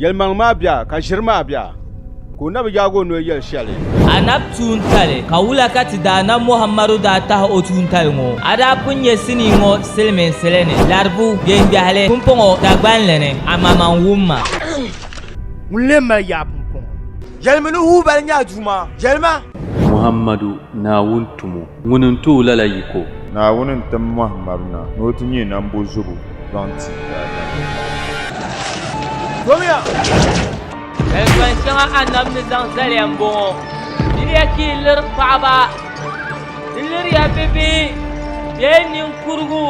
Yɛlimaŋ maa bia ka ʒiri maa bia ka o na bi yaagi o noli yɛli shɛli. A na bi tuuntali ka wula ka ti daana Muhammadu daa tahi o tuuntali ŋɔ? A daa pun nyɛ sinii ŋɔ silimiinsili ni laribu gbeŋgbɛhili pumpɔŋɔ Dagbanli ni, amaa n wum ma. Ŋuni lee mali yaa pumpɔŋɔ? Yɛlimi ni wuhi ba ni nya Duuma, yɛlima. Muhammadu, Naawuni tumo. Ŋuni n-tooi lala yiko? Naawuni n-tim mɔhi Marina ni o ti nyɛ nambo zubu zaŋ ti daadama. Yɛltɔɣ shɛŋa Annabi ni zaŋ zaliya m-bɔŋɔ, Diriya ka yi liri paɣiba, di liriya bibihi bee niŋkurugu,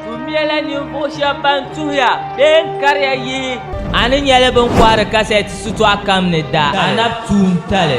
tuhumiɛla ninvuɣ shɛb bɛn tuhiya bee n-kariya yihi. A ni nya li bɛ ni kɔhiri kasɛt shitɔɣ kam ni daa Annabi tuuntali.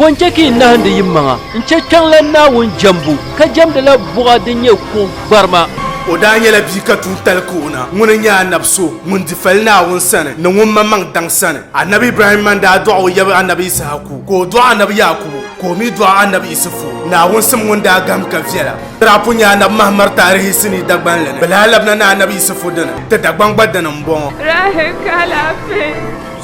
Bɔ n-chɛ ka yi nahindi yi maŋa n-chɛ kpiɔŋlan Naawuni jɛmbu, ka jɛmdila buɣa din nyɛ kuɣ gbarima. O daa nyɛla bia ka tuun tali ka o na. Ŋuni n-nyɛ Anab so ŋun di fali Naawuni sani ni ŋun ma maŋ daŋ sani? Anab Ibrahim man daa dɔɣi o yab Anab Ishaku, ka o dɔɣi Anab Yaakubu, ka o mi dɔɣi Anab Isifu, Naawuni sim ŋun daa gahim ka viɛla. Tirapu n-nyɛ Anabi Mahamad taarihi sinii Dagban li ni, bɛ lahi labina ni Anabi Yisifu dini, ti Dagban gba dini m-bɔŋɔ. Rahi ka alaafee.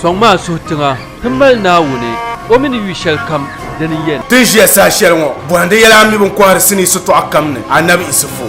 Sɔŋ maa suhi tiŋa ti mali Naawuni o mini yu shɛli kam di ni yɛn. Ti ni ʒiya saha shɛli ŋɔ bɔhindi yɛla a mi bini kɔhiri sinii sitɔɣu kam ni Anabi Yisifu.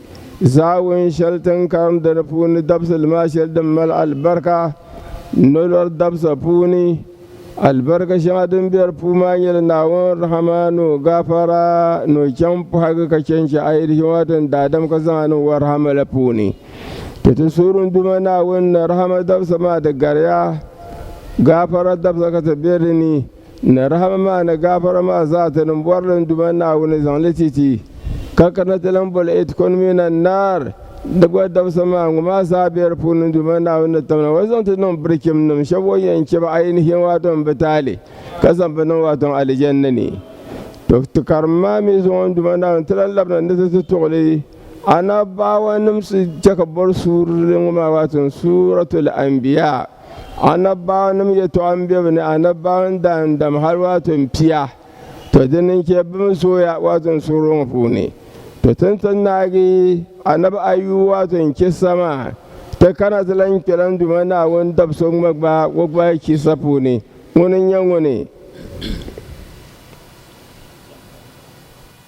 Zaawuni shɛli ti ni karimdi di puuni dabisili maa shɛli din mali alibarika nolɔri dabisa puuni, alibarika shɛŋa din be di puuni maa nyɛla Naawuni rahama ni o gaafara ni o chaŋ pɔhigi ka chɛ n-chɛ a yi di shɛŋa ti ni daadam ka zaŋ a niŋ o rahama la puuni. Ti ti suhuri n Duuma Naawuni ni rahama dabisa maa di gariya gaafara dabisa ka ti be di ni. Ni rahama maa ni gaafara maa zaa ti niŋ bɔrili n-duma Naawuni zaŋ li ti ti, ka kana ti lan boli Etkɔn mini Annaar, di gba dabisa maa, ŋɔ maa zaa be di puuni n-duma Naawuni ni tamna o zaŋ ti niŋ birichimnim shɛb o ni yɛn chɛ ba ayinihiyɛn waato m-bi taali, ka zaŋ ba niŋ waato Alijanna ni. Tɔ! Ti karim maa mi zuŋɔ n-duma Naawuni, ti lan labina ni ti ti tuɣili Anabaawanim su chɛ ka bɔri suurili ŋɔ maa waato Suuratul Anbiyaa. anabbaɣu nim yɛtɔɣa n bɛ bi ni anabbaɣu n daan dam hali waato n pia to din n chɛ bi mi zooya waato n suɣuri ŋɔ puuni to tin ti naagi anabi ayu waato n chɛ sama ti kana ti lan kpɛ lan duma naawuni dab so ŋma gba o gba chisa puuni ŋuni n nyɛ ŋuni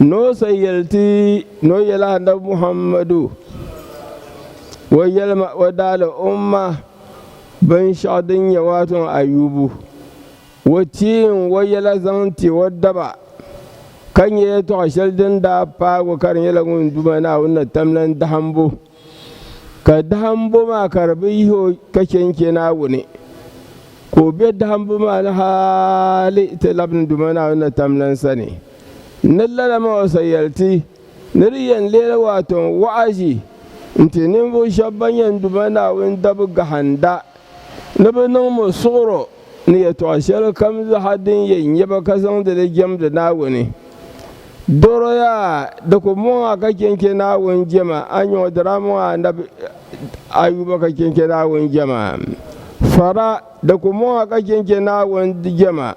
Noo sa yɛli ti ni o yɛli Annabi Muhammadu o yɛlima o daali umma binshɛɣu din nyɛ waato Ayubu o tiim o yɛla zaŋ ti o daba ka nyɛ yɛtɔɣa shɛli din daa paag o ka di nyɛla ŋun Duuma Naawuni ni tamlan dahimbu. ka dahimbu maa ka di bi yihi o ka chɛ n-chɛ Naawuni, ka o be dahimbu maa ni hali ti labi ni Duuma Naawuni na tam lan sani. N ni lala ma o sa yɛli ti, ni di yɛn leela waato n wɔɣiʒi n-ti ninvuɣ shɛb bɛn yɛn Duuma Naawuni dabi gahinda ni bɛ niŋ mo suɣiro. ni yɛtɔɣ shɛli kam zaa din yɛn nyɛ ba ka zaŋdi li jɛmdi Naawuni. Dɔroya di ku mɔŋ a ka chɛ n-chɛ Naawuni jɛma, a nyɔŋ di daa mɔŋ a anabi Ayuba ka chɛ n-chɛ Naawuni jɛma. Fara di ku mɔŋ a ka chɛ n-chɛ Naawuni jɛma.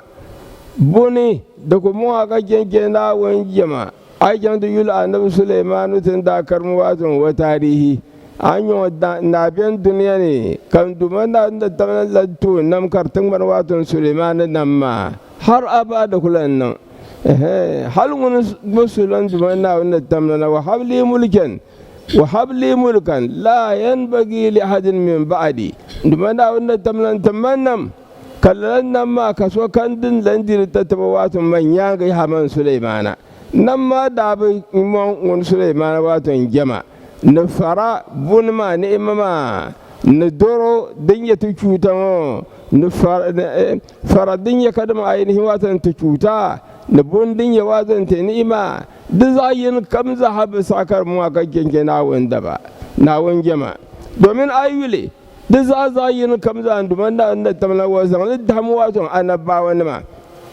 Buni di ku mɔŋ a ka chɛ n-chɛ Naawuni jɛma. A yi chaŋ ti yuli Anabi Sulemaanu ti ni daa karimi maa zuŋu o taarihi, a ni nya o daa beni dunia ni ka Duuma Naa ni daa tam la toon nam kari tiŋgbani maa zuŋu Sulemaanu nam maa hal abada di ku lan niŋ. Ɛhɛɛn! Hal ŋuni gba so lan Duuma Naawuni ni tam la na, Wahab lii mulikan, Wahab lii mulikan, laa yanbagi li ahadin min ba'di, Duuma Naawuni ni tam la n-ti ma nam. Ka lala nam maa ka sokam din lan di di tatabo waato man nyaaŋa yaha man Sulemaana. Nam maa daa bi mɔŋ ŋun Sulemaana waato n jɛma, ni fara, buni maa, ni ima maa, ni doro din nyɛ ti chuuta ŋɔ, ni fara din nyɛ kadimaŋ ayinihi waato ni ti chuuta, ni buni din nyɛ waato ni ti ni'ima, di zaɣ yini kam zaa ha bi saɣi ka di mɔŋ a ka chɛnchɛ Naawuni daba, Naawuni jɛma. Domin a yi yuli, Di zaa zaɣ yini kam zaa n duma Naa ni tam la wa zaŋ li dahim waa sɔŋ anabaawa nima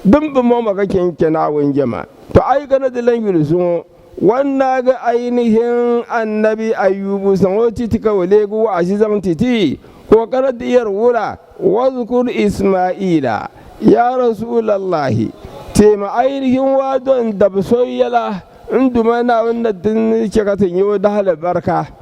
din bi mɔŋ ma ka chɛ n-chɛ Naawuni jɛma. Tɔ a yi kana ti lan yuli zuŋɔ, wan naagi ainihin Annabi Ayubu zaŋ o ti ti ka o leegi wɔɣizi zaŋ ti ti, ka o kana ti yɛri wula, Wadhkur Ismaaila, Yaa Rasuulallaahi! Teemi ainihin waa dɔn dab so yɛla n duma Naawuni na ti ni chɛ ka ti nya o dahalibarika.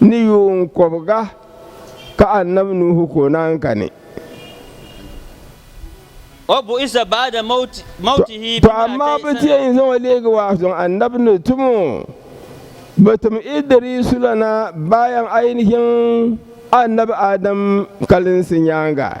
ni yuun kɔbiga ka Annabi Nuhu ka o naan kani. Tɔ amaa bɛ ti yɛn zaŋ o leegi waa zuŋ Annabi ni tum o bɛ tim Idriisu la na bayan ainihin Annabi Adam kalinsi nyaaŋa.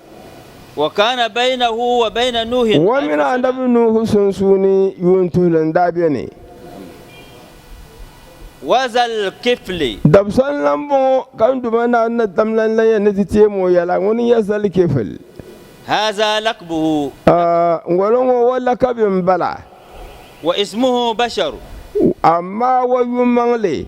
Ŋɔ mini Anabi Nuuhu sunsuuni yuuntuhili n-daa beni. Dabisa n-lan m-bɔŋɔ, ka n Duuma Naawuni na dam lan la ya ni ti teem o yɛla. Ŋuni n-nyɛ Zal-Kifl? Ŋɔlo ŋɔ o lakabi m-bala. Amaa o yumaŋli.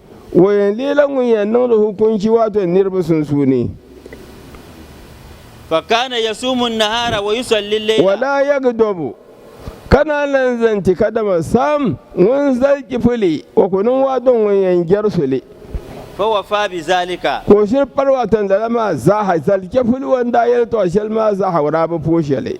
O yɛn leela ŋun yɛn niŋdi hukunci waato niriba sunsuuni. Fakana yasuumu nnahaara wa yusalli lleila. Wa daa yagidɔbu, ka naan lan zan ti kadama saam ŋun zali chipili, o ku niŋ waato ŋun yɛn jɛri suli. Fa wafaa bi zaalika. Ka o shiri pali waato lala maa zaaha, zali chipili o ni daa yɛli tɔɣu shɛli maa zaaha o daa bi puhi shɛli.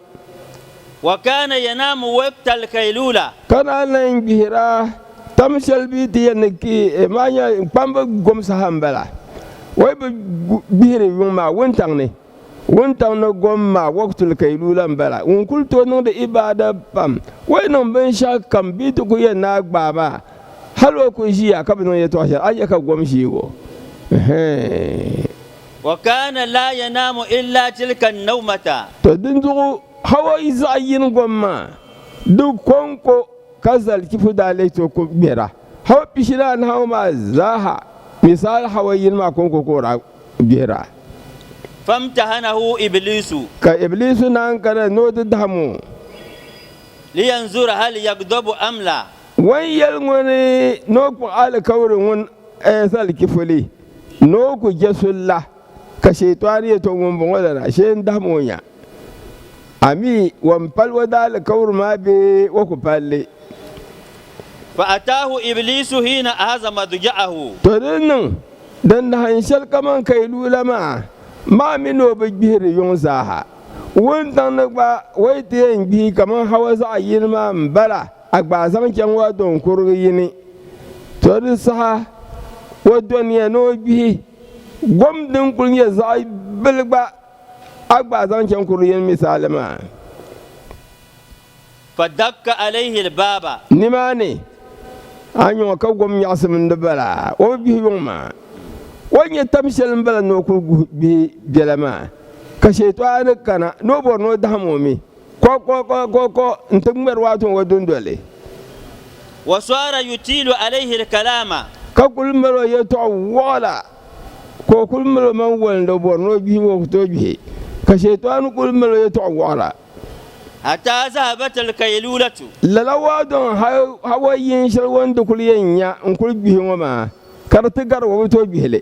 Wa kaana yanaamu waqta al-qayluula. Ka daa lan gbihira tam shɛli bɛ ti yɛn ni ki eh maa nya kpamba gom saha m-bala. Wai bɛ gbihiri yuŋ maa wuntaŋ ni. Wuntaŋ ni gom maa waqtu al-qayluula m-bala. Ŋun kul tooi niŋdi ibaada pam, o yi niŋ binshɛɣu kam bɛ ti ku yɛn naai gbaai maa hal o ku ʒiya ka bi niŋ yɛtɔɣ shɛli, a nya ka gom ʒiigi o. Ɛhɛɛn! Wa kaana laa yanaamu illaa tilka nawmata. Tɔ dinzuɣu Hawa yi zaɣ yini gom maa, di kɔŋko ka zalichifu daa leei ti o ko gbera. Hawa pishili anahi maa zaaha mi saɣila Hawa yini maa kɔŋko ka o daa gbera. Famtahanahu Ibliisu. Ka Ibliisu naan kana ni o ti dahim o. Liyanzura hal yagdobu am la. Wan yɛli ŋuni ni o kpuɣi alikauli ŋun zalichifuli. Ni o ku je so la, ka Shɛitɔɣu yɛt o, Ŋun bɔŋɔ lala, shee n-dahim o nya. A mi, wan pal o daalikauli maa bee o ku pal li? Fa'ataahu Ibliisu hiina ahaza madja'ahu. Tɔ di niŋ, din dahim shɛli kaman ka yi lu la maa, maa mi ni o bi gbihi di yuŋ zaaha. Wuntaŋ ni gba, o yi ti yɛn gbihi kaman Hawa zaɣ yini maa m-bala. A gba a zaŋ chaŋ o do n-kurigi yi ni, to di saha o do niya ni o gbihi gom din kul nyɛ zaɣ bili gba, a gba a zaŋ chaŋ kurigi yi ni misali maa. Fadakka alayhi al-baaba. Nimaani, a nyɔŋ ka gom nyaɣisim n-di bala, o bi gbihi yuŋ maa. O ni nyɛ tam shɛli m-bala ni o kul gbihi biɛla maa, ka Shɛyitɔɣu ni kana ni o bɔri ni o dahim o mi. Ko ko ko ko ko n ti ŋmɛri waa tuŋ o dundoli. Wa sɔara yutiilu alayhi lkalaama. Ka kuli mali o yɛltɔɣa wɔɣila ka o kuli mali o maŋ wali ni o bɔri ni o gbihi o ku tooi gbihi ka shɛyitɔɣani kuli mali o yɛltɔɣa wɔɣila. Hataa zahabat lkayluulatu. Lala waa dɔŋ hal hawa yiŋ shɛli o ni di kuli yɛn nya n kuli gbihi ŋɔ maa ka di ti gari o bi tooi gbihi li.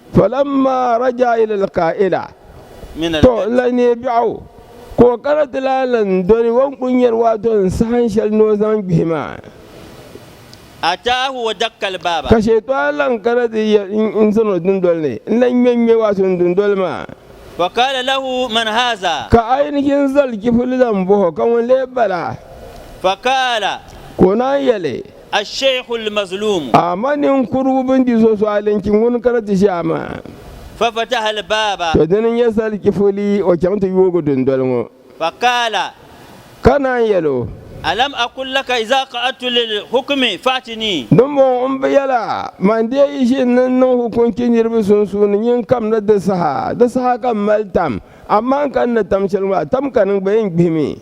Falamma raja ila alqaila to n la neei biɛɣu ka o kana ti lahi lan doli o ni kuli nyari waato n sahan shɛli ni o zaŋ gbihi maa. Ka shɛytɔɣa lan kana ti yɛl n zani o dundoli ni n lan ŋme ŋme waato n dundoli maa. Ka a yi ni chɛ n zali chifuli zaŋ bɔh o ka ŋun lee bala? Ka o naan yɛli. Al-Sheikh Al-Mazlum. Ama ninkurugu bini di so suɣili n-chi ŋuni ka na ti ʒiya maa. Fa fataha Al-Baba. To dini n-nyɛ salichifoli, o chaŋ ti yoogi dundoli ŋɔ. Fa qaala. Ka naan yɛl o. Alam aqul laka iza qa'adtu lil-hukmi fa'tini. Dimbɔŋɔ m bi yɛl a, man deei yi ʒini ni n niŋ hukunchi niriba sunsuuni nyin kam ni di saha, di saha ka m mali tam, amaa n ka ni tam shɛli ŋɔ, a tam ka ni gba yi n gbihimi.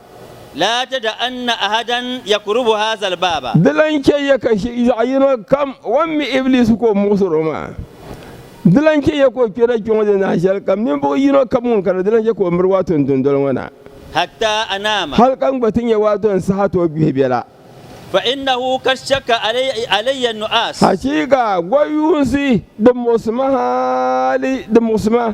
laa tada'anna ahadan yakurubu haazal baaba. Di lan chɛ ya ka shiri zaɣ yino kam o ni mi Ibiliis ka o muɣisir o maa. Di lan chɛ ya ka o kpɛri a kpiɔŋ ni nahi shɛli kam ninvuɣ yino kam ŋun kana di lan chɛ ka o miri waato n dundoli ŋɔ na, hatta anaama. hal ka n gba ti nya waato n saha ti o gbihi biɛla. Fa innahu kad shakka alayya nu'aas. Hachiika! Gɔyuunsi, di muɣisi ma hali, di muɣisi ma.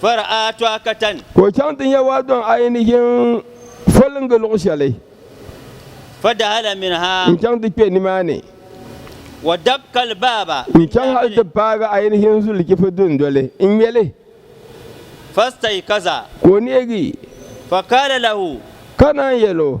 Ka o chaŋ ti nya waa dɔŋ a yi ni ʒin foliŋgi luɣ shɛli n-chaŋ ti kpe nimaani. N chaŋ hal ti paagi a yi ni ʒin zuli chifu dundoli n-ŋme li. Ka o neegi, ka naan yɛl o.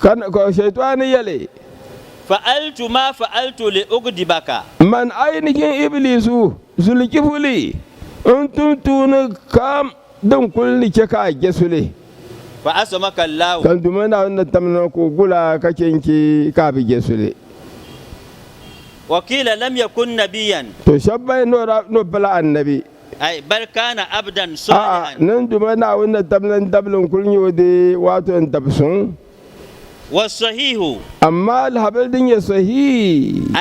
Ka Shɛyitɔɣani yɛli. Fa'altu ma fa'altu li ugdibaka. Man ainihin Ibliisu, zulikifuli, n-tum tuuni kam din kul ni chɛ ka a je suli. Fa'asɔmaka Allahu. Ka Duuma Naawuni ni tam ni o ka o gul a ka chɛ n-chɛ ka a bi je suli. Wa qiila lam yakun nabiyyan. Tɔ, shɛba ban yɛn ni o daa ni o pala Annabi. A'a, nin duuma Naawuni ni tabili n dabili n kuli nyɛ o dee, waato n dabi suŋ. Amaa alihabili din nyɛ sɔhihi,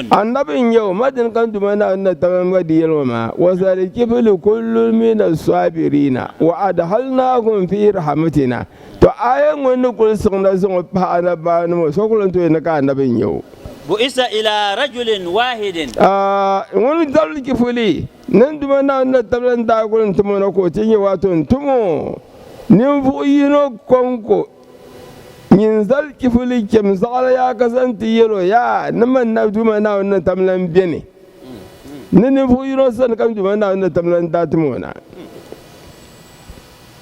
Annabi n nyɛ o, ma dini ka n duuma Naawuni ni tabili n ba di yɛli ŋɔ maa, wa zali kifili kullun mina sɔabiriina, wa adhalnaakum fii rahamatina. To aya ŋɔ ni kuli siɣina zaŋɔ pahi anabaanim ŋɔ so kuli n tooi ni ka anabi n-nyɛ o. Bu'isa ila rajulin waahidin. A ŋun dabili chifuli ni n Duuma Naawuni na tabila n daa kuli n tim o na ka o ti nya waato n tim o ninvuɣ yino kɔŋko nyin zal chifuli chem zaɣiri yaa ka zaŋ ti yɛl o, Yaa, ni man na Duuma Naawuni na tabila n beni ni ninvuɣ yino sani ka n Duuma Naawuni na tabila n daa tim o na.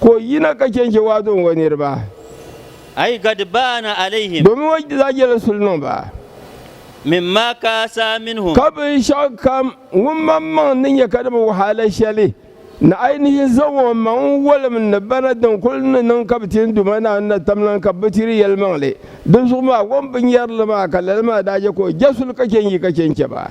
Ka o yina ka chɛn chɛ waadu n o niriba. Ay ghadbaana alayhim. Domin o daa yɛla suli niŋ ba. Mimma kaasa minhum. Ka binshɛɣu kam ŋun mam maŋ ni nyɛ ka di bi wahala shɛli ni ayinihi zaŋ o maŋ n wolim n ni bana din kuli ni niŋ ka bi ti n Duuma Naawuni na tamlan ka bɛ bi ti di yɛlimaŋli di zuɣu maa, o ni bi nyari li maa, ka lala maa daa chɛ ka o ja suli ka chɛ n yi ka chɛ n chɛ ba.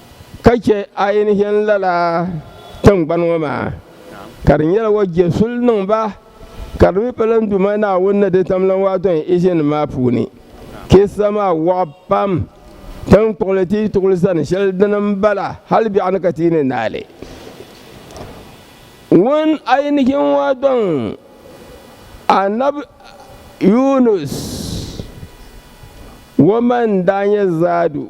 ka chɛ a yi ni chani lala tiŋgbani ŋɔ maa, ka di nyɛla o je suli niŋ ba, ka di mi pa lan Duuma Naawuni ni di tam lan waatɔ ni Ijinim maa puuni. Kissa maa waɣa pam. Tiŋkpuɣili ti yi tuɣili zani shɛli dini m-bala, hal biɛɣu ni ka ti yi ni naai li. Ŋun a yi ni che ŋɔ dɔŋ Annabi Yunus, o ma n-daa nyɛ Zaadu.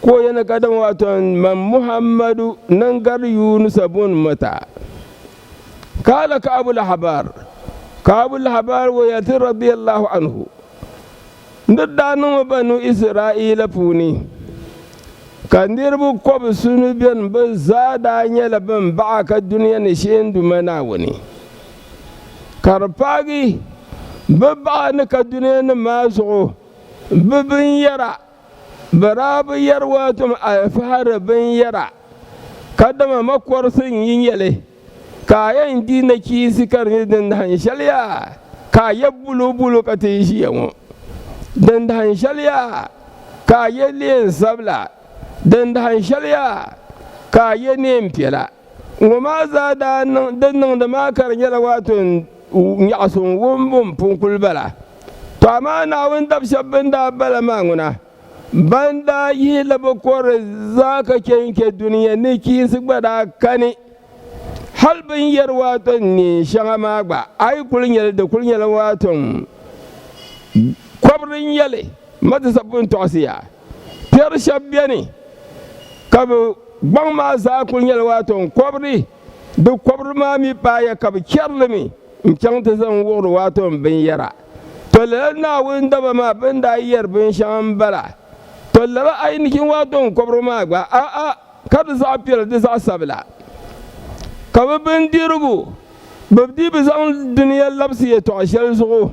Ko yɛna ka dama wato man Muhammadu nan gari Yunusa bun mata. Kala ka Abu Lahabar, ka Abu Lahabar wo yɛlti radiyallahu anhu, N di daa niŋmi Banu Israila puuni, ka niriba kɔbisuni beni bɛ zaa daa nyɛla bɛn baɣa ka dunia ni shee n Duuma Naawuni, ka di paagi bɛ baɣa ni ka dunia ni maa zuɣu bɛ binyɛra. Bɛ daa bi yɛri waatom alifahari binyɛra, kadama makɔrisi n-yi nyɛ li, ka a yɛn di nachiinsi ka di nyɛ din dahin shɛli yaa ka a yɛ bulubulu ka ti ʒiya ŋɔ, din dahin shɛli yaa ka a yɛ neen sabila, din dahin shɛli yaa ka a yɛ neen piɛla. Ŋɔ maa zaa daa niŋ, di niŋdi maa ka di nyɛla waato n nyaɣi so n wum o ni pun kuli bala. Tɔ amaa Naawuni dab shɛb bɛn daa bala maa ŋuna, ban daa yihi li bɛ kɔrili zaa ka chɛ n-chɛ dunia ni chiinsi gba daa kani. Hal bɛ ni yɛri waato n neen shɛŋa maa gba, a yi kuli nya li, di kuli nyɛla waato n kɔbiri n-nyɛ li. Ma ti sapuni tɔɣisi ya. Piɛri shɛb beni ka bɛ gbaŋ maa zaa kuli nyɛla waato n-kɔbiri, di kɔbiri maa mi paaya ka bɛ chɛri li mi n-chaŋ ti zaŋ wuɣiri waato binyɛra. Tɔ lala Naawuni daba maa bɛ ni daa yɛri binshɛŋa m-bala. Tɔ lala ayinichim waato n-kɔbiri maa gba, a'a, ka di zaɣ piɛla di zaɣ sabila. Ka bɛ bindirigu, bɛ dii bi zaŋ duniya labisi yɛtɔɣ shɛli zuɣu.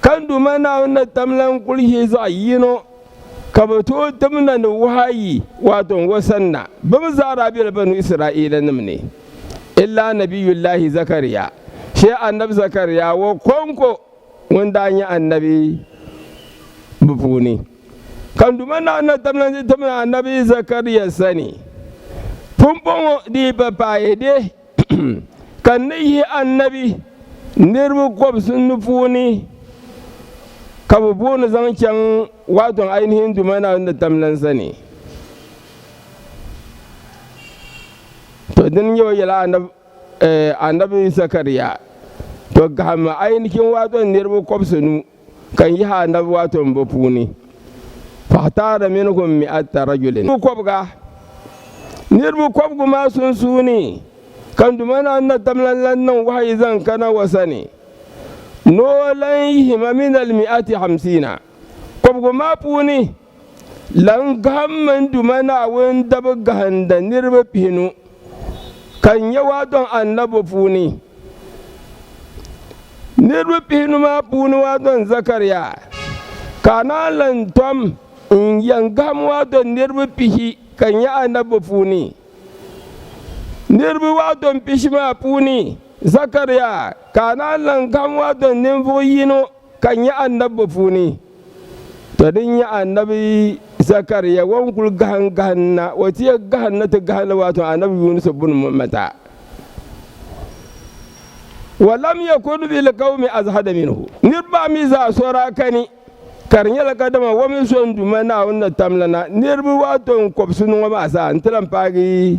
Ka Duuma Naawuni ni tam lan kul yi zaɣ yino, ka bɛ tooi tim na ni wahayi, waato n o sani na. Bɛ mi zaa daa bela Banu Israilanim ni, illa Anabiyullaahi Zakariya, shee Annabi Zakariya o kɔŋko ŋun daa nyɛ annabi bɛ puuni. Ka Duuma Naawuni ni tam lan ti tim na Annabi Zakariya sani pumpɔŋɔ di yi pa paayɛde. Ka n ni yihi annabi niriba kɔbisi ni puuni ka bɛ booni zaŋ chaŋ waatɔŋ ainihin Duuma Naawuni ni tam lan sani. To dini nyɛ o yɛla annabi Zakariya to gahimmi ainihin waatɔŋ niriba kɔbisi nu. Ka n yihi anabi waato n bo puuni, fahtaara minhum mi'ata rajulin. Niriba kɔbiga, niriba kɔbigu maa sunsuuni ka Duuma Naa Natam lan lan niŋ wahayi zaŋ ka Naawua sani ni o lan yihi ma minal mi'ati hamsiina kɔbigu maa puuni. Lan gahimmi n Duuma Naawuni n dabi gahinda niriba pihinu, ka n yɛu a dɔŋ anabi puuni. Niriba pihinu maa puuni a dɔŋ Zakaria, ka a naan lan tom n yɛn gahim a dɔŋ niriba pihi ka nyɛ anabi puuni. Niriba a dɔŋ pishi maa puuni Zakaria, ka a naan lan gahim a dɔŋ ninvuɣ yino, ka nya a nabbu puuni. Tɔ din nya a nabi Zakaria ŋɔ n-kul gahim gahim na, o ti yɛl gahim ni ti gahim li waato a nabi Yunusu buni m-bɔŋɔ mata. Wa lam yakun fi lqawmi azhada minhu, niriba maa mi zaa so daa kani, ka di nyɛla ka dama o mi so n-duuma Naawuni ni tam li na, niriba waato n-kɔbisi ni ŋɔ maa zaa n-ti lan paagi.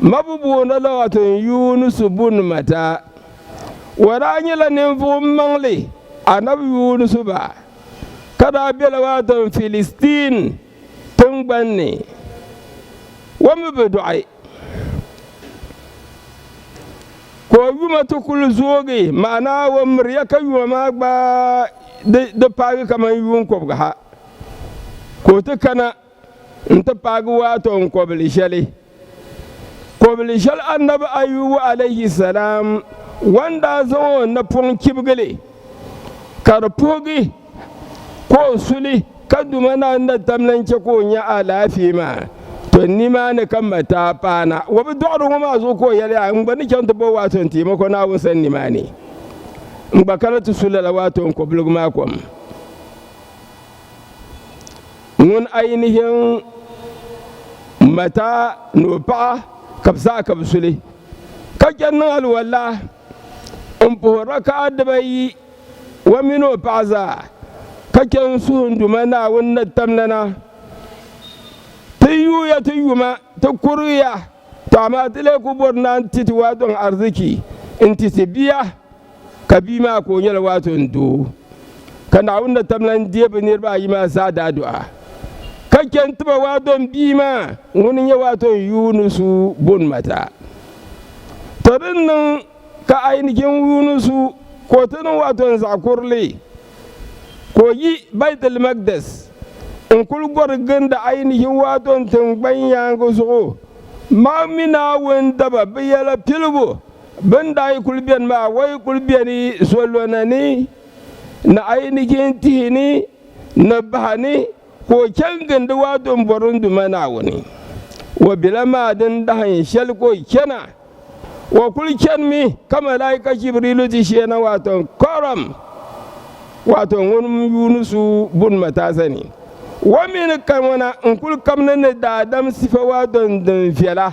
Mabubuuna Lughatun Yunus bun Matta, O daa nyɛla ninvuɣ maŋli, Anabi Yunusu ba, ka daa be Lughatun Filistin tiŋgban ni. O mi bi dɔɣi, ka o yuma ti kul zoogi, maana o miriya ka yuma maa gbaai di paagi kaman yuun kɔbiga ha ka o ti kana. n ti paagi waato n kɔbili shɛli kɔbili shɛli annabi ayubu alayhi salam wan daa zaŋ o napɔŋ chibigili ka di puhigi ka o suli ka duma na na tam lan chɛ ka o nya alaafee maa to nimaani ka ma taa paana wa bi dɔɣiri ŋɔ maa zuɣu ka o yɛli a n gba ni chaŋ ti bo waato n teemi ko naawuni san nimaani n gba kana ti su lala waato n kɔbiligu maa kom ŋun ainihin mata ni o paɣa ka bi zaa ka bi suli ka chɛ niŋ aliwala n puhi rakaa dibayi o mini o paɣa zaa ka chɛ n suhu n duma naawuni ni tamla na ti yuuya ti yuma ti kuriya to amaa ti lee ku bɔri naa n ti ti waa dɔŋ ariziki n ti ti bia Ka bia maa ka o nyɛla waato n doo. Ka Naawuni na tam lan deei bɛ niriba ayi maa zaa daadɔɣa, ka chɛ nti ba waato n bia maa ŋun n-nyɛ waato n Yuunusu bun Mata. Tɔ di ni niŋ ka a yi ni chɛ n Yuunusu ka o ti niŋ waato n zaɣ kurili, ka o yi Baitilmaqdis, n kul gɔri ginda a yi ni chɛ waato n tiŋgbani yaaŋa zuɣu, mam mi Naawuni daba bɛ yɛla piligu, Bɛ ni daa yi kuli beni maa, o yi kuli beni zolɔna ni ni a yi ni jin tihi ni ni baha ni, ka o chɛ n-gindi o a Dumbɔrili Duuma Naawuni. O bela maa din dahin shɛli ka o chana. O kuli chanimi ka malaika Jibriilu ti shee na, waato kɔrim, waato ŋun yuuni su buni mataasa ni. O mi ni kani ŋɔ na n-kuli kabina ni daadam sifa waato din viɛla.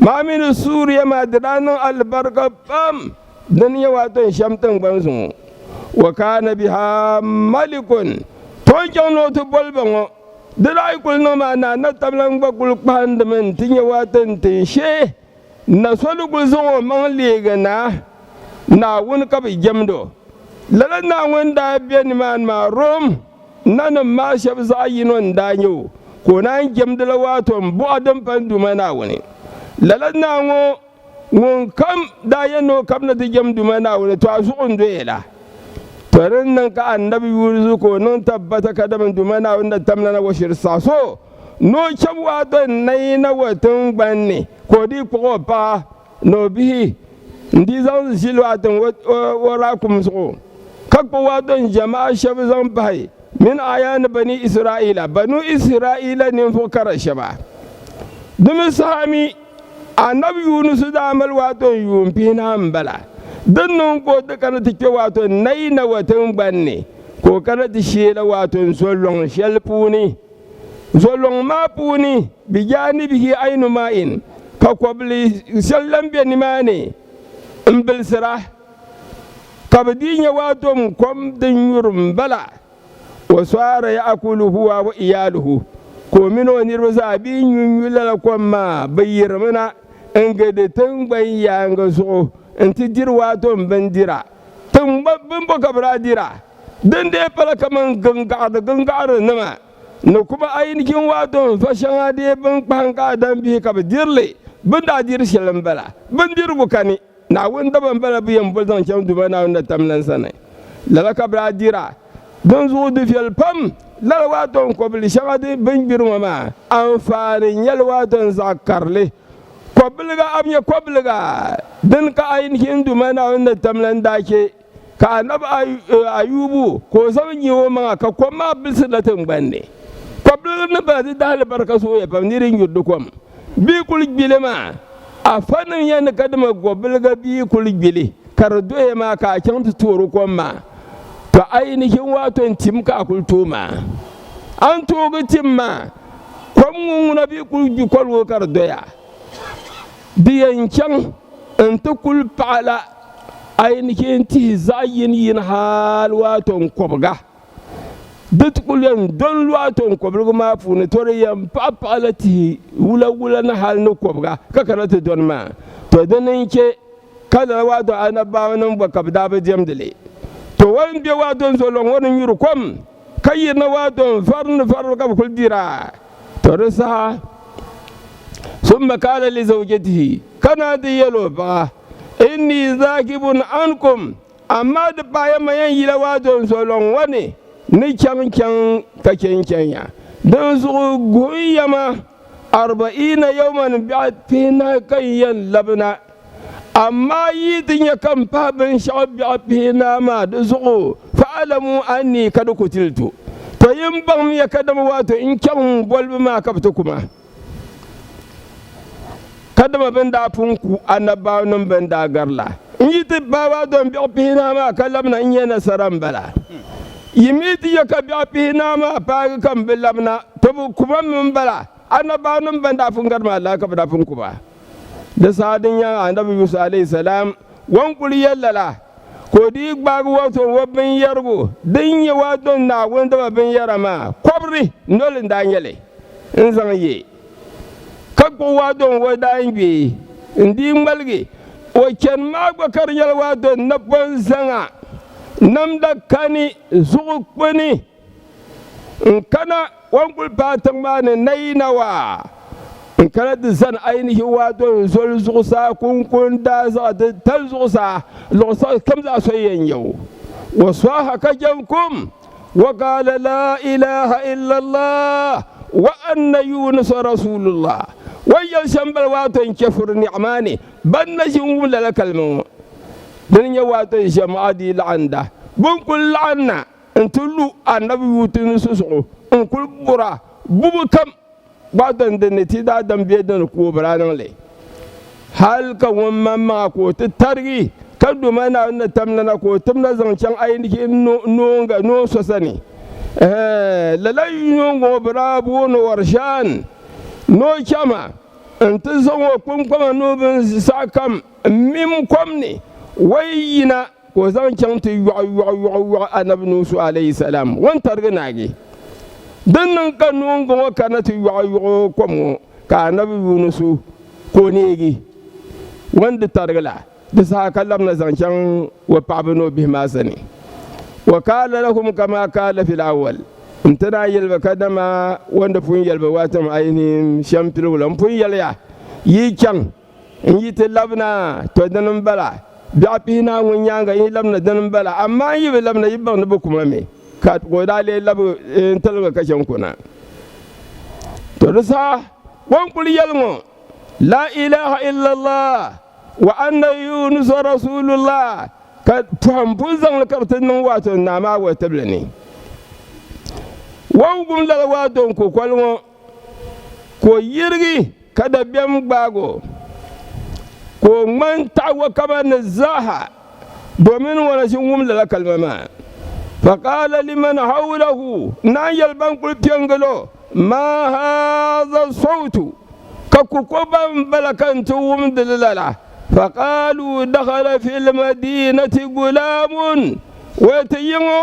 Maa mini Suuriya maa di daa niŋ alibarika pam dini nyɛ waato n shɛm tiŋgbani zuŋɔ. Wa kaana biha malikun, tooi chaŋ ni o ti boli ba ŋɔ. Di daa yi kuli niŋ maa naa natablan gba kuli kpahindimi n ti nyɛ waato n ti shee na so ni kuli zaŋ o maŋ leegi naa Naawuni ka bɛ jɛmd o. Lala Naawuni daa be nimaani maa Rom. Nanim maa shɛb zaɣ yino n-daa nyɛ o, ka o naan jɛmdi la waato m-bɔhi din pali Duuma Naawuni. Lala naa ŋɔ ŋunkam daa yɛn ni o kab ni ti jɛm Duuma Naawuni, tɔ a zuɣu n-doya la. Tɔ di ni niŋ ka anabi yuurizu ka o niŋ tabbata ka dama Duuma Naawuni na tam lana wa shiri saha so ni o chab waato n-nayi na wa tiŋgban ni, ka o dii kpuɣ o paɣa. ni o bihi n di zaŋ ʒi lɔɣati ŋɔ o raakum zuɣu ka kpi waato n jama'a shɛba zaŋ bahi min aya ni bani Isra'ila banu Isra'ila ninvuɣ kara shɛba. Di mi saha mi anabi Yunusu daa mali waato n yuun pihi naai m-bala. Din niŋ ka o ti kana ti kpe waato n nayi Nawa tiŋgban ni ka o kana ti sheela waato n zo lɔŋ shɛli puuni. Zolɔŋ maa puuni bi jaanibihi Ainu Ma'in ka kɔbili shɛli lan be nimaani m-bilisira, ka bi dii nya waa tom kom din nyuri m-bala. Wa sara ya'kulu huwa wa iyaaluhu, ka o mini o niriba zaa dii nyunyu lala kom maa. Bɛ yirimi na n-gindi tiŋgbani yaaŋa zuɣu nti diri waa tom bindira. Tiŋgba bimbo ka bɛ daa dira? Din dee pala kaman gingaɣidi gingaɣiri nima ni kuba ayi ni jinwaa dɔŋ va shɛŋa dee bini kpahim ka a dan bihi ka bɛ diri li. Bɛ ni daa diri shɛli m-bala. Bindirigu ka ni, Naawuni daba m-bala bɛ yɛn boli zaŋ chaŋ Duuma Naawuni na tam lan sani. Lala ka bɛ daa dira. Dinzuɣu di viɛli pam lala waa dɔŋ kɔbili shɛŋa di bini gbiri ŋɔ maa. Anfaani n-nyɛ li waa dɔŋ zaɣ karili. Kɔbiliga a bi nyɛ kɔbiliga din ka Ayin hin Duuma Naawuni ni tam la n-daa chɛ ka Annabi Ayubu ka o zabi nyihi o maŋa ka kom maa bilsiri la tiŋgbani ni. Kɔbiliga ni bala di daa alibarika zooya pam ni di nyuri di kom bee kuli gbi li maa. Afanim ya ni ka dama gɔbiliga bee kuli gbi li ka di doya maa ka a chaŋ ti toori kom maa, tɔ a yi ni chɛ n-waai tɔ n-tim ka a kuli tooi maa, a ni toogi tim maa. Kom ŋɔ ŋuna bɛ kuli gbi kol ŋɔ ka di doya. Di yɛn chaŋ n-ti kuli paɣila a yi ni chɛ n-tihi zaɣ yini yini hal waa tɔŋkɔbiga. Di ti kuli yɛn do n-lu a tɔŋkɔbiligu maa puuni tɔ di yɛn paɣi paɣila tihi wula wula ni hal ni kɔbiga ka kana ti dɔni maa. Tɔ di ni n-chɛ ka lala waa dɔŋ Anabbaawaniŋ gba ka bɛ daa bi diɛmdi li. Tɔ wal m-be waa dɔŋ zuɣu lɔŋ ŋɔ ni nyuri kom. ka yirina waa dɔn vari ni varibu ka bi kuli dira to di saha summa kaala li zawjatihi ka naa di yɛl o paɣa inni zaakibun ankum amaa di paɣaya ma yɛn yila waa dɔn so lɔŋ ŋɔ ni ni chaŋ chaŋ ka chɛ n chɛnya din zuɣu guhiya ma arba'iina yawman biɛɣu pihinahi ka n yɛn labina Amaa yi ti nya ka m pahi binshɛɣu biɛɣu pihi naa maa di zuɣu, fa'alamu anni ka di ku ti li to. Tɔ yi ni baŋ miya kadama waato n chaŋ m bolibu maa ka bɛ ti ku ma. Kadama bɛ ni daa pun ku anabbaawnim bɛn daa gari la, n yi ti pahi ba dɔni biɛɣu pihi naa maa ka labina n nya nasara m-bala. Yi mi ti nya ka biɛɣu pihi naa maa paagi ka m bi labina, tɔ bɛ ku ma mi m-bala, anabbaawnim bɛn daa pun gari maa lala ka bɛ daa pun ku ba. Di saha din nyɛ Annabi Yusuf alayhi salam o ni kuli yɛli lala, ka o dii gbaagi o tɔb o binyɛrigu din nyɛ o adon Naawuni daba binyɛra maa kɔbiri noli n-daa nyɛ li n-zaŋ ye, ka kpuɣi o adon o daangbee n-dii ŋmaligi o chani maa gba ka di nyɛla o adon napɔŋ zaŋa namda kani zuɣu kpini. N kana wan guli paai tiŋ maa ni nayinawa. N kana ti zani ainihi waadol n zoli zuɣusaa kunkun daazaɣa ti tali zuɣusaa luɣ saɣis kam zaa soya yɛn nyɛ o. Wa swaha ka jɛn kum, wa gaala laa ilaha illallah wa anna Yunusa rasulullah. O ni yɛli shɛm bala waato n chɛ furi niɣi maa ni ban na ʒi n-wum lala kalima ŋɔ. Di ni nyɛ waato n-ʒiɛm a di yi laɣinda bɛ ni kul laɣim na. n ti lu Annabi Luuti ni susuɣu n-kul bur a bubi kam gbahi dɔni din ni ti daadam bɛ di ni ka o bi daa niŋ li. Hal ka ŋun maŋmaŋa ka o ti tarigi, ka doma Naawuni ni tam lana ka o tim la zaŋ chaŋ ayiniki noonga noon so sani. Ɛɛn! Lala yino ŋɔ bi daa booni o Rishaan ni o chɛ ma nti zaŋ o kpiŋkpama ni o bin zi saɣikam m-mim kom ni, wayi yina. ka o zaŋ chaŋ ti yɔɣi yɔɣi yɔɣi yɔɣi anabi Nuusu alayhi salam o ni tarigi naagi. Din niŋ ka noongu ŋɔ kana ti yɔɣi yɔɣi o kom ŋɔ ka anabi Yunusu ka o neegi o ni di tarigi la di saha ka labina zaŋ chaŋ o paɣaba ni o bihi maa sani. Wa qaala lahum kamaa qaala fil awwal nti daa yɛli ba ka dama o ni pun yɛli ba waatiŋ ayinihim shɛmpiligu la m-pun yɛliya yi chaŋ N yi ti labina, to dini m-bala. Biɛɣu pihi naai ŋun nyaaŋa n yi labina dini m-bala, amaa n yi bi labina yi baŋ ni bɛ ku ma mi. Ka o daa lee labi n tiliga ka chɛ n-ku na. To di saha o ni kul yɛli ŋɔ, Laa ilaah illallah, wa anna Yuunusa rasuulullah, ka pɔhim pun zaŋ li ka bɛ ti niŋ waa to ni naa maa wɔli tibili ni. Wɔbigu m-lala waa do n-ku kɔli ŋɔ. ka o yirigi ka dabiɛm gbaag o, ka o ŋman taɣig o kaba ni zaaha, domin ŋuna ʒi n-wum lala kalima maa. Faqaala liman hawlahu, naan yɛli ban kul pe n-gil o, Maa haadha sawtu? Ka ku ko ban m-bala ka n ti wumdi li lala? Faqaaluu, Dakhala fi lmadiinati gulaamun, o ti yi ŋɔ.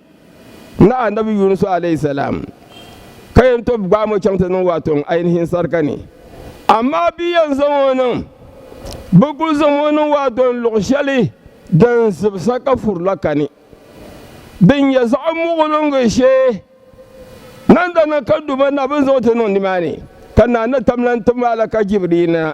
Naɣa Annabi Yunusu alayhi salam ka yɛn tob gbaam o chaŋ ti niŋ o atoŋ ainihin sarika ni. Amaa bɛ yɛn zaŋ o niŋ, bɛ kul zaŋm o niŋ o atoŋ luɣ shɛli din zibisa ka furi la kani, din nyɛ zaɣ muɣiliŋgi shee. Nandana ka duba na bɛ ni zaŋ o ti niŋ nimaani, ka Naa Natam lan ti ma a la ka Jibriil na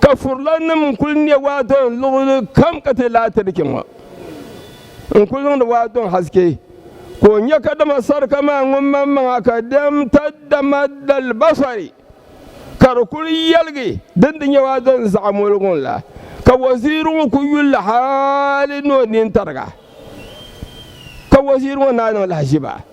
ka furilannim n kuli ne waa dɔŋ luɣuli kam ka ti laati di kpɛŋɔ n kuli niŋdi waa dɔŋ haske ka o nya ka dama sarika maa ŋun man maŋa ka dɛm ta dama dalibasari ka di kuli yɛligi din di nyɛ waa dɔŋ zaɣa moligu la ka waziiri ŋɔ ku yulli hali ni o nini tariga ka waziiri ŋɔ naa niŋ lahaʒiba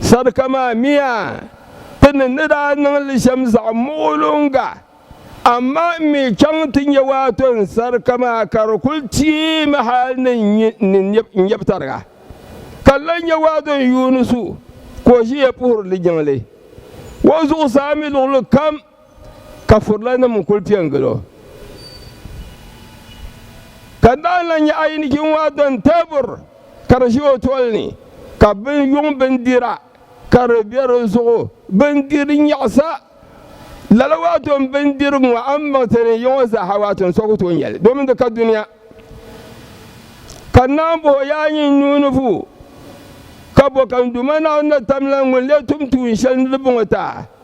Sadaka maa miya ti ni ni daa niŋ li shɛm zaɣ muɣiluŋga, amaa m mi chaŋ ti nya waato n sadaka maa ka di kul teei ma hal ni n nyɛb tariga. Ka n lan nya waato n yuuni su ka o ʒiya puhiri li jiŋli o zuɣusaa mi luɣilikam. ka furilanim n kuli pe n gili o. Ka daa lan nya ayinijin ŋɔ dan teebur ka di ʒe o toli ni, ka bin yuŋ bindira ka di be di zuɣu, bindir nyaɣisa, lala waato n bindirigu ŋɔ a ni maŋ ti ni nya ŋɔ zaaha waato n so ku tooi nyali domin di ka dunia. Ka n naan bɔh o yaa nyin n nuu ni vuui, ka bɔ ka n Duuma Naawuni ni tamla ŋun lee tum tuun shɛli ni di bo ŋɔ taa?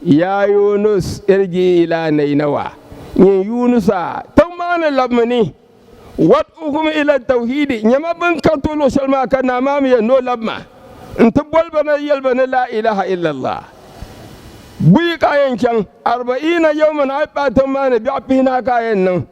Yaa Yunus, irji ila Nainawa, nyin Yunusa, tiŋ maa ni labimi ni, wad'uhum ila tawhidi, nyama bin ka tuhi luɣ shɛli maa ka Naa maa mi yɛli ni o labi ma, nti boli ba na yɛli ba ni Laa ilaha illallah. Buyi ka a yɛn chaŋ? Arba'iina yawman, a yi paai tiŋ maa ni bɛɣu pihinahi ka a yɛn niŋ.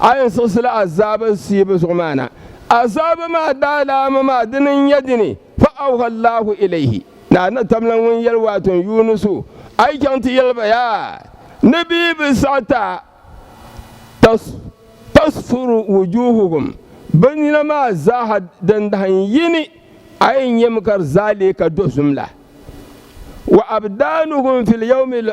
A yi siɣisila azaaba siibu zuɣu maa na, azaaba maa daalaama maa dini n-nyɛ dini? Fa awha Allahu ilayhi, Naa na tamla ŋun yɛli waato n Yuunusu, A yi chaŋ ti yɛli ba yaa, ni bɛ yi bi saɣi ta, tas, tasfuru wujuhuhum, bɛ nina maa zaaha din dahi n-yi ni, a yi nyɛ mi ka di zaa leei ka dozim la, wa abdaanuhum fil yawmil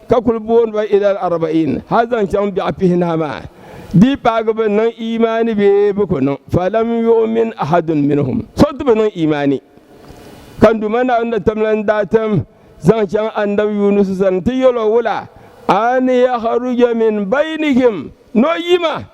ka kul booni ba ilal arba'in hal zaŋ chaŋ biɛɣu pihinahi maa, di yi paagi bɛ ni niŋ iimaani bee bɛ ku niŋ, falam yu'min ahadun minhum, so ti bi niŋ iimaani. Ka Duuma Naawuni na tamla n daa tim zaŋ chaŋ Annabi Yunusu sani nti yɛl o wula, an yakhruja min baynihim, ni o yi ma.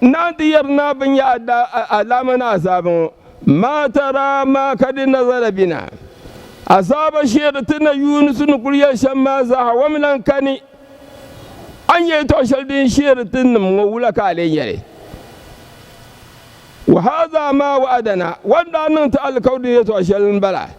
Naan ti yɛri naa bɛ nya alaama ni azaaba ŋɔ, maa tara maa ka di nazala bina. Azaaba shee di ti na Yuunusu ni kul yɛli shɛm maa zaaha wami lan kani. A nya yɛtɔɣ shɛli din shihiri ti nim ŋɔ wula ka a lee nya li? Wa haadhaa maa wa'adana, wan daa niŋ ti alikauli yɛtɔɣ shɛli m-bala.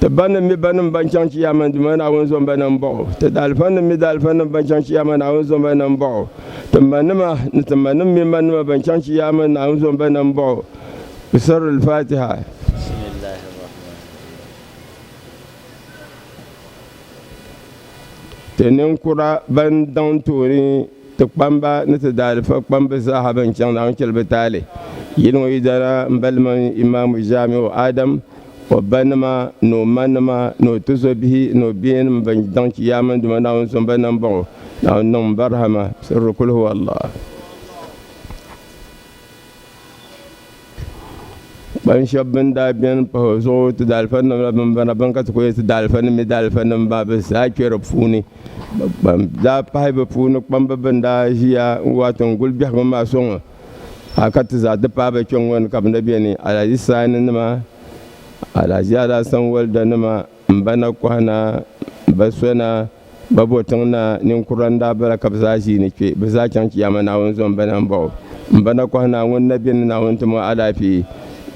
Ti banim mi banim ban chaŋ Chiyaama Duuma ni Naawuni zom ba na m-bɔŋ o. Ti daalifanim mi daalifanim ban chaŋ Chiyaama Naawuni zom ba na m-bɔŋ o. Ti manima ni ti manim mi manima ban chaŋ Chiyaama Naawuni zom ba na m-bɔŋ o. Bi sɔri Al-Faatiha. Ti ninkura ban daŋ tooni Ti kpamba ni ti daalifa kpambi zaaha bɛn chaŋ Naawuni chɛlibi taali. Yili ŋɔ yidana m-bali mini Imaamu Jaamiu Adam, o ba nima ni o ma nima ni o tizɔbihi ni o biɛyanim bɛn daŋ chi yaa mini duma Naawuni so m-ba nam bɔŋɔ. Naawuni niŋm barihama sirili kul huwallah. Kpaŋ shɛba bɛn daa bɛni pahi o zuɣu ti daalifa nim la bɛn bala bɛn ka ti kuli yɛli ti daalifa nim mi daalifa nim maa bɛ zaa kpɛ di puuni ban daa pahi bi puuni kpamba bɛn daa ziya n wɔɣi tiŋ guli bɛhigu maa sɔŋɔ hali ka ti zaa ti pahi ba kpɛŋɔ ni ka bi na bɛni alaji saani nima alaji alasan walida nima. M ba na kɔhi na, m ba so na, m ba bo tiŋ na, ninkurila n daa bala ka bɛ zaa ʒii ni kpe, bɛ zaa chaŋ Chiyaama Naawuni zuɣu m ba na m-bɔh o. M ba na kɔhi na, Ŋuni na beni ni Naawuni tim o alaafee?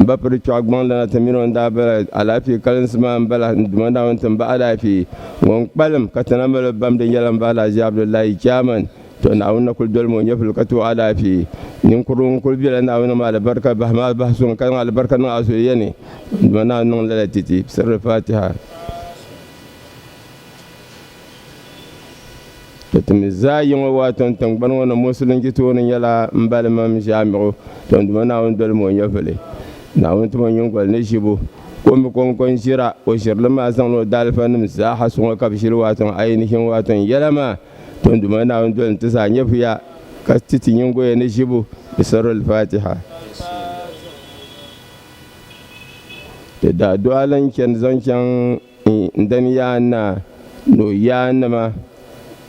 M ba piri chɔɣu gbaŋ lana ti min o ni daa bala, alaafee kalinsi maa m-bala, n Duuma Naawuni tim ba alaafee. Ŋun kpalim ka ti na mali o bamdi yɛla m ba Alhaji Abdullahi Chairman. To Naawuni na kuli dolimi o nyɛvili ka ti o alaafee. Ninkurigu ŋun kuli bela Naawuni maa alibarika bahi maa bahi suŋ ka zaŋ alibarika niŋ a zuliya ni, dama Naawuni niŋ lala ti ti. Sirri Faatiha. To ti mi zaa yiŋɔ waa tɔn tiŋgbani ŋɔ ni Musulin ji tooni nyɛla m balimam Ʒamigu. To duma Naawuni dolimi o nyɛvili. Naawuni tim o nyingoli ni ʒibu ka o mi kɔŋko n-ʒira. O ʒirili maa zaŋla o daalifa nim zaaha suŋɔ ka bɛ ʒili waa tɔn ainihin waa tɔn yɛla maa. Ton duma Naawuni doli nti zaa nyɛvuya ka ti ti nyingoya ni ʒibu bi sɔri Al-Fatiha. Ti daa do alin chani zaŋ chaŋ n dani yaa naa ni o yaa nima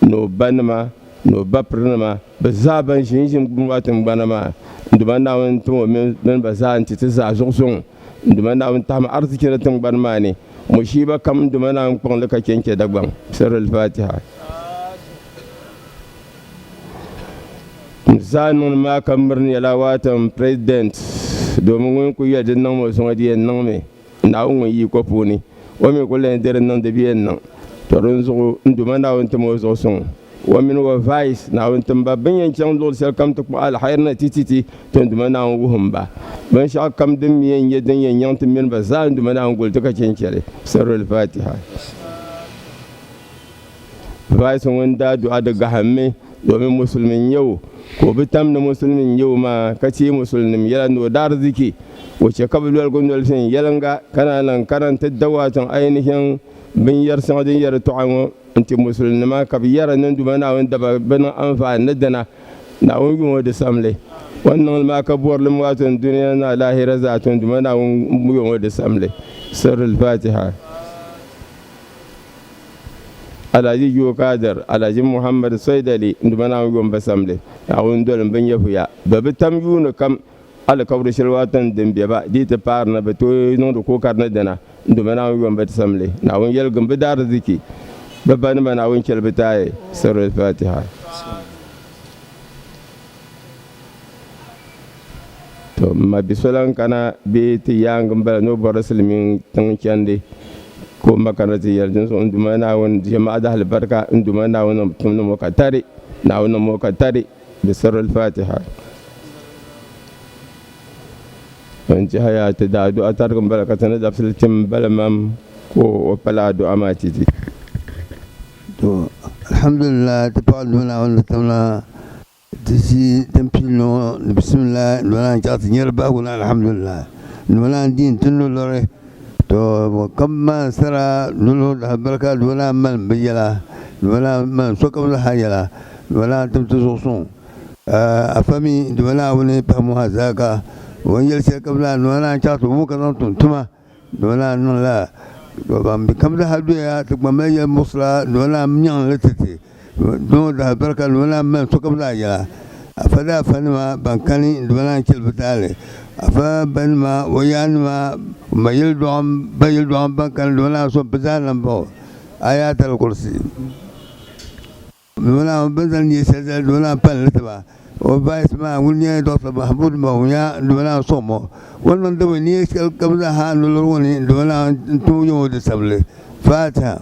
ni o ba nima ni o ba piri nima bi zaa ban ʒi n ʒi n maa tingbana maa n duma Naawuni n tim o mini ba zaa n ti ti zaa zuɣu suŋ n duma Naawuni tahim arzichi ni tingbani maa ni. Mushiiba kam duma naa n-kpuɣ li ka che n-che Dagbaŋ. Sirri al-Fatiha. N zaa niŋdi maa ka miri ni yɛla waata m President domin ŋun kuli yɛli di niŋm o zuŋɔ di yɛn niŋmi Naawuni ŋun yi ko puuni. O mi kuli lan yɛn diri niŋ di bi yɛn niŋ. To dinzuɣu n Duuma Naawuni tim o zuɣu suŋ. O mini o vais Naawuni timba bin yɛn chaŋ luɣili shɛli kam ti kpuɣi alhairi na ti ti ti ti Duuma Naawuni wuhim ba binshɛɣu kam din mi yɛn nyɛ din yɛn nyaŋ ti mini ba zaa Duuma Naawuni goli ti ka chɛ n-chɛli. Sirrul Faatiha Vais ŋun daa duɣa di gahimmi domin musulimi n-nyɛ o, ka o bi tam ni musulimi n-nyɛ o maa ka teei musulinim yɛla ni o daarzichi. O chɛ ka bɛ loligu noli viɛnyɛliŋga ka naan lahi kana nti da waatiŋ ainihin binyɛr shɛŋa din yɛri tɔɣa ŋɔ. N-ti Musulinima ka bɛ yɛra ni Duuma Naawuni daba bɛ niŋ anfaani ni dina, Naawuni yuŋ o di samli. O ni niŋ li maa ka bɔri li mi waato ni dunia ni alaahira zaa tuun Duuma Naawuni yuŋ o di samli. Sirri Al-Faatiha. Alhaji Joo Kaadir, Alhaji Muhammad Soidali Duuma Naawuni yuŋ ba samli. Naawuni doli m bi nyɛvuya. Bɛ bi tam yuuni kam Alikauli sheli Washington din be ba dii ti paari ni bɛ tooi niŋdi kuɣu kari ni dina n dɔmi Naawuni yom bɛ ti samli Naawuni yeligim bɛ daariziki bɛ ba nima Naawuni cheli bɛ taai Surah Al-Fatiha. To m ma bi so lan kana bee ti yaangi m bala ni o bɔri silimiin tiŋ chendi ka o ma kana ti yeli dinzuɣu n Duuma Naawuni jɛmaadahalibarika n Duuma Naawuni tumdi mo ka tari Naawuni niŋ mo ka tari Di sirri al-Fatiha n tiɛha yaa ti daa du'a tarigi m-bala ka ti ni dabisili tim m-bala mam ka o pala a du'a maa ti di. To alhamdulillahi ti paɣi duhi Naawuni ni tamla ti zi din pili ni ŋɔ ni bisimillahi ni bala n chaɣi ti nyari bahigu ni alhamdulillahi ni bala n diin ti nolɔri To ka bɛ maan sara lolo daa biri ka duba daa malim bɛ yɛla, duba daa malim sokam zaha yɛla, duba daa tim ti zuɣu suŋ. Ka a fa mi duba Naawuni pahimbu ha zaa ka o ni yɛli shɛli kam zaa duba daa chaɣi ti wum ka zaŋ tum tuma. Duba daa niŋla ka ban be kam zaha doya ti kpaŋ ba yɛli muɣisira duba daa nyaŋ li ti ti. Doo daa biri ka dima naan mali sokam daa yɛla afa daa fa nima ban kani dima naan chɛli bi taali afa ba nima o yaa nima ma yili dɔɣim ba yili dɔɣim ban kani dima naan so bi zaa lan baɣo ayaatal kursi dima naan bini zali nyɛ shɛli zali dima naan palli tiba o vais maa ŋun nyɛ dɔɣita Mahmud Bawumya dima naan sɔŋ ma o ni niŋdi bin nyɛ shɛli kam zaa ha nolɔri ŋɔ ni dima naan n tooi yɛm o di sabili faatiha.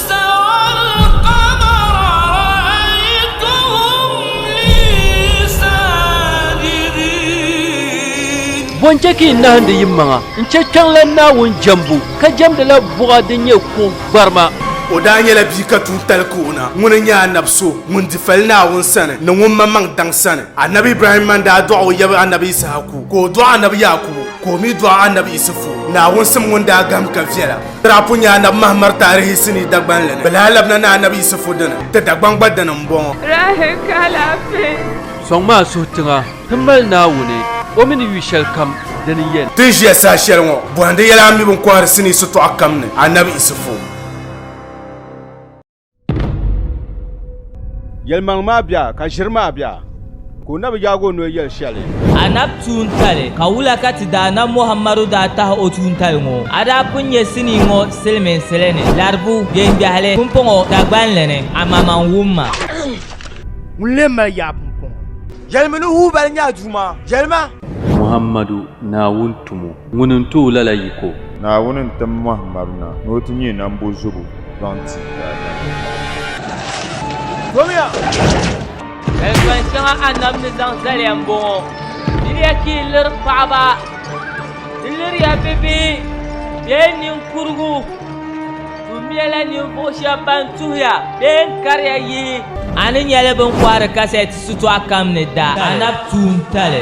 Bɔ n-chɛ ka yi nahindi yi maŋa n-chɛ kpiɔŋ la Naawuni jɛmbu, ka jɛmdi la buɣa din nyɛ kuɣ gbarima. O daa nyɛla bia ka tuun tali ka o na. Ŋuni n-nyɛ Anabi so ŋun di fali Naawuni sani ni ŋun maŋmaŋ daŋ sani. Anabi Ibrahim man daa dɔɣi o yab Anabi Ishaku, ka o dɔɣi Anabi Yaakubu, ka o mi dɔɣi Anabi Isufu, Naawuni sim ŋun daa gahim ka viɛla. Tirahi pun nyɛ Anabi Mahamad taarihi sinii Dagbanli ni. Bɛ lahi labina ni Anabi Yisifu dini. Ti Dagbaŋ gba dini m-bɔŋɔ. Tirahi ka alaafee. Sɔŋ maa suhi tiŋa ti mali Naawuni, O mini yu shɛli kam di ni yɛn. Ti ni ʒiya saha shɛli ŋɔ. Bɔhindi yɛla a mi bɛ ni kɔhiri sinii sitɔɣu kam ni Anabi Yisifu. Yɛlimaŋ maa bia ka ʒiri maa bia ka o na bi yaagi o noli yɛli shɛli. A na bi tuuntali ka wula ka ti daana Muhammadu daa tahi o tuuntali ŋɔ? A daa pun nyɛ sinii ŋɔ silimiinsili ni laribu deembiɛhili pumpɔŋɔ Dagbanli ni, amaa man wum ma. Ŋuni lee mali yaa pumpɔŋɔ? Yɛlimi ni wuhi ba ni nya Duuma, yɛlima. Muhammadu, Naawuni tumo. Ŋuni n-tooi lala yiko? Naawuni n-tim Muhammad na ni o ti nyɛ nambo zubu zaŋ ti daadama. Yɛltɔni shɛŋa Annabi ni zaŋ zaliya m-bɔŋɔ, Diriya ka yi liri paɣiba, di liriya bibihi bee niŋkurugu, tuhumiɛla ninvuɣ shɛba ban tuhiya bee n-kariya yihi. A ni nya li bɛ ni kɔhiri kasɛt shitɔɣu kam ni daa Annabi tuuntali.